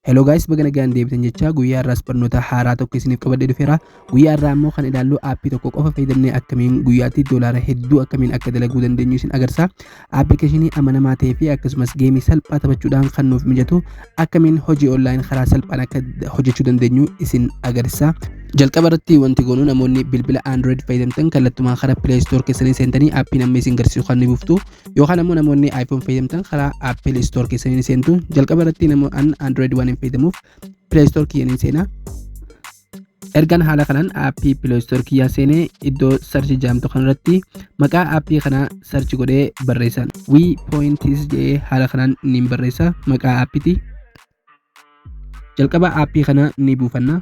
Hello guys baga nagaan deebitan jecha guyyaa irraas barnoota haaraa tokko isiniif qabadhee dhufeera guyyaa irraa immoo kan ilaallu aappii tokko qofa fayyadamnee akkamiin guyyaatti doolaara hedduu akkamiin akka dalaguu dandeenyu isin agarsiisa aappilikeeshinii amanamaa ta'ee fi akkasumas geemii salphaa taphachuudhaan kan nuuf mijatu akkamiin hojii online karaa salphaan akka hojjechuu dandeenyu isin agarsiisa jalqaba irratti wanti goonu namoonni bilbila android fayyadamtan kallattumaa karaa play store keessanii seentanii aappiin amma isin garsiisu kan ni buuftu yookaan ammoo namoonni iPhone fayyadamtan karaa Apple Store keessanii ni seentu. Jalqaba irratti nama an Android waan hin fayyadamuuf Play Store kiyya ni seena. Ergan haala kanaan aappii Play Store kiyyaa seenee iddoo sarchi jaamtu kanarratti maqaa aappii kanaa sarchi godhee barreessan. Wii Pointis jedhee haala kanaan niin barreessa maqaa aappiti. jalqaba aappii kana ni buufanna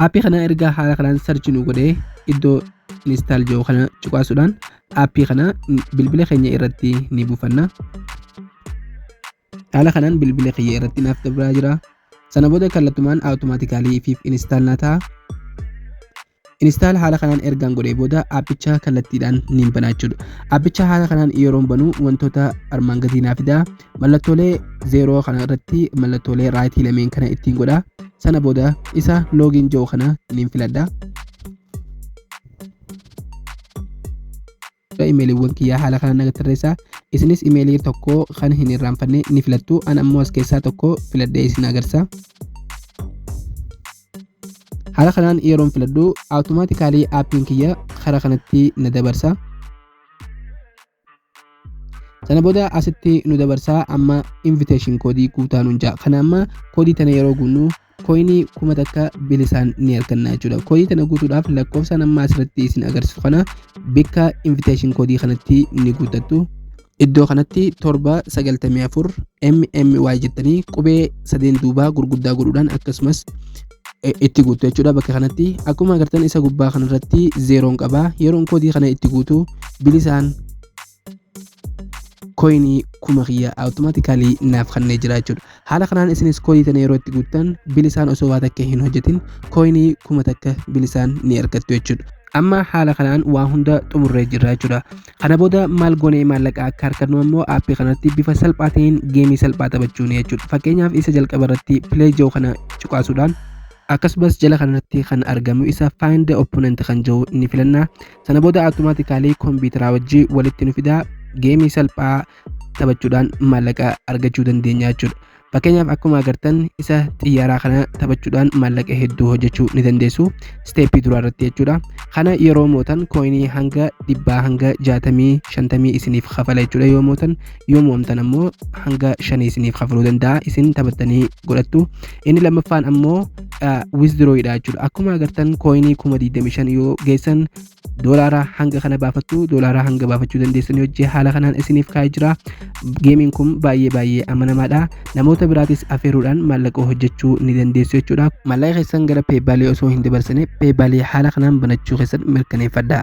aappii kana erga haala kanaan sarchi nu godhee iddoo install jiru kana cuqaasuudhaan aappii kana bilbila keenya irratti ni buufanna haala kanaan bilbila kiyya irratti naaf dabraa jira sana booda kallattumaan awutomaatikaalii fi install na ta'a Install haala kanaan ergaan godhee booda aappicha kallattiidhaan niin banaa jechuudha. Aappicha haala kanaan yeroon banuu wantoota armaan gadii naa fidaa. Mallattoolee zeeroo kana irratti mallattoolee raayitii lameen kana ittiin godhaa. Sana booda isa loogiin jiru kana niin filadha. Gara imeeliiwwan kiyyaa haala kanaan naga tarreessaa. Isinis imeelii tokko kan hin irraanfanne ni filattu. An ammoo as keessaa tokko filadhee isin agarsa. Haala kanaan yeroon filadhu awutomaatikaalii aappiin kiyya karaa kanatti na dabarsa. Sana booda asitti nu dabarsaa amma invitation koodii guutaa nuun ja'a. Kana amma koodii tana yeroo guunnu Koyinii kuma takka bilisaan ni arganna jechuudha. Koyinii tana guutuudhaaf lakkoofsaan amma asirratti isin agarsiisu kana bikka invitation koodii kanatti ni guuttattu. Iddoo kanatti torba sagaltamii afur MMY jettanii qubee sadeen duubaa gurguddaa godhuudhaan akkasumas itti guutu jechuudha bakka kanatti akkuma agartan isa gubbaa kanarratti zeeroon qaba yeroon koodii kana itti guutu bilisaan koyinii kuma kiyya awutomaatikaalii naaf kannee jira jechuudha. Haala kanaan isinis koodii tana yeroo itti guuttan bilisaan osoo waa takka hin hojjetin koyinii kuma takka bilisaan ni argattu jechuudha. Amma haala kanaan waa hunda xumurree jirra jechuudha. Kana booda maal goonee maallaqa akka harkannu ammoo aappii kanatti bifa salphaa ta'een geemii salphaa taphachuun jechuudha. Fakkeenyaaf isa jalqaba irratti pileey jiru kana cuqaasuudhaan akkasumas jala kanarratti kan argamu isa find the opponent kan jiru ni filanna sana booda automaatikaalii kompiitaraa wajjii walitti nu fidaa geemii salphaa taphachuudhaan maallaqa argachuu dandeenya jechuudha. Fakkeenyaaf akkuma agartan isa xiyyaaraa kana taphachuudhaan maallaqa hedduu hojjechuu ni dandeessu. Isteeppii duraa irratti jechuudha. Kana yeroo mootan kooyinii hanga dhibbaa hanga jaatamii shantamii isiniif kafala jechuudha yoo mootan yoo mo'amtan ammoo hanga shanii isiniif kafaluu danda'a isin taphattanii godhattu inni lammaffaan ammoo wizdrooyidha jechuudha akkuma agartan kooyinii kuma 25 yoo geessan doolaaraa hanga kana baafattu doolaaraa hanga baafachuu dandeessan hojii haala kanaan isiniif kaa'ee jira geemiin kun baay'ee baay'ee amanamaadha namoota biraatis afeeruudhaan maallaqa hojjechuu ni dandeessu jechuudha maallaqa keessan gara peebaalii osoo hin dabarsine peebaalii haala kanaan banachuu keessan mirkaneeffadha